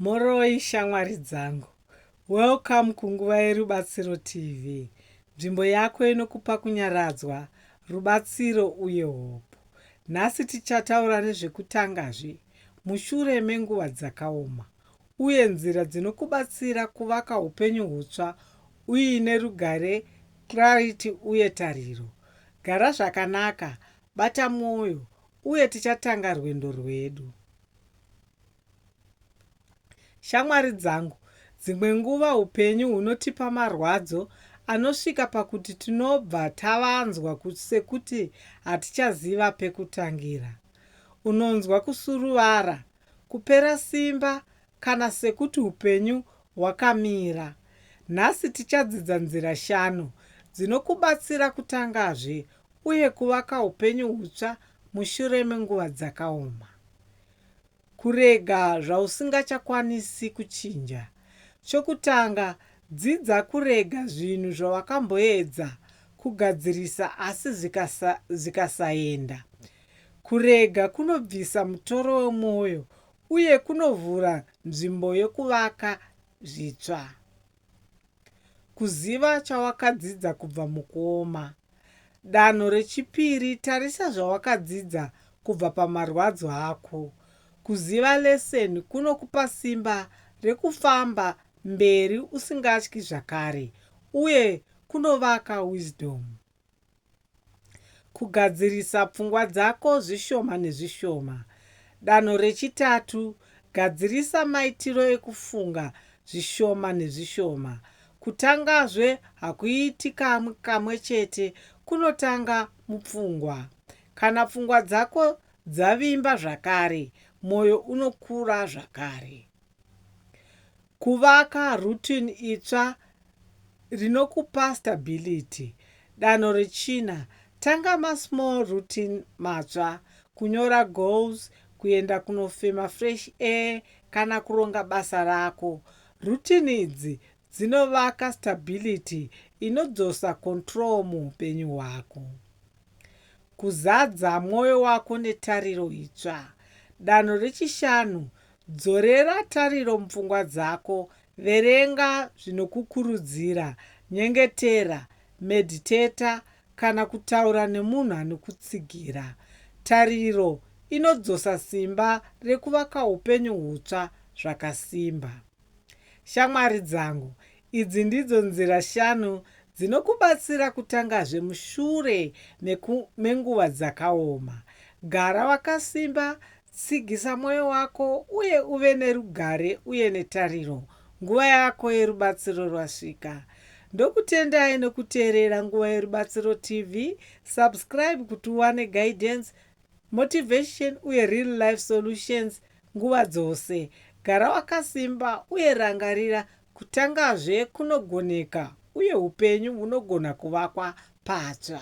Mhoroi shamwari dzangu. Welcome kunguva yeRubatsiro TV, nzvimbo yako inokupa kunyaradzwa, rubatsiro uye hope. Nhasi tichataura nezvekutanga zve mushure menguva dzakaoma uye nzira dzinokubatsira kuvaka upenyu hutsva uine rugare, clarity uye tariro. Gara zvakanaka, bata mwoyo uye tichatanga rwendo rwedu. Shamwari dzangu, dzimwe nguva upenyu hunotipa marwadzo anosvika pakuti tinobva tavanzwa sekuti hatichaziva pekutangira. Unonzwa kusuruvara, kupera simba kana sekuti upenyu hwakamira. Nhasi tichadzidza nzira shanu dzinokubatsira kutangazve uye kuvaka upenyu hutsva mushure menguva dzakaoma. Kurega zvausingachakwanisi kuchinja. Chokutanga, dzidza kurega zvinhu zvawakamboedza kugadzirisa asi zvikasaenda. Kurega kunobvisa mutoro wemwoyo uye kunovhura nzvimbo yokuvaka zvitsva. Kuziva chawakadzidza kubva mukuoma. Danho rechipiri, tarisa zvawakadzidza kubva pamarwadzo ako. Kuziva lesson kunokupa simba rekufamba mberi usingatyi zvakare uye kunovaka wisdom. Kugadzirisa pfungwa dzako zvishoma nezvishoma. Danho rechitatu, gadzirisa maitiro ekufunga zvishoma nezvishoma. Kutangazve hakuiti kamwe kamwe chete, kunotanga mupfungwa. Kana pfungwa dzako dzavimba zvakare, mwoyo unokura zvakare. Kuvaka routine itsva rinokupa stability. Danho rechina, tanga masmall routine matsva, kunyora goals, kuenda kunofema fresh air kana kuronga basa rako. Routine idzi dzinovaka stability inodzosa control muupenyu hwako. Kuzadza mwoyo wako netariro itsva. Danho rechishanu, Dzorera tariro mupfungwa dzako, verenga zvinokukurudzira, nyengetera, medhiteta, kana kutaura nemunhu anokutsigira. Tariro inodzosa simba rekuvaka upenyu hutsva zvakasimba. Shamwari dzangu, idzi ndidzo nzira shanu dzinokubatsira kutangazve mushure meku, menguva dzakaoma. Gara wakasimba Tsigisa mwoyo wako uye uve nerugare uye netariro. Nguva yako yerubatsiro rwasvika. Ndokutendai nekuteerera Nguva Yerubatsiro TV. Subscribe kuti uwane guidance, motivation uye real life solutions nguva dzose. Gara wakasimba uye rangarira kutangazve kunogoneka uye upenyu hunogona kuvakwa patsva.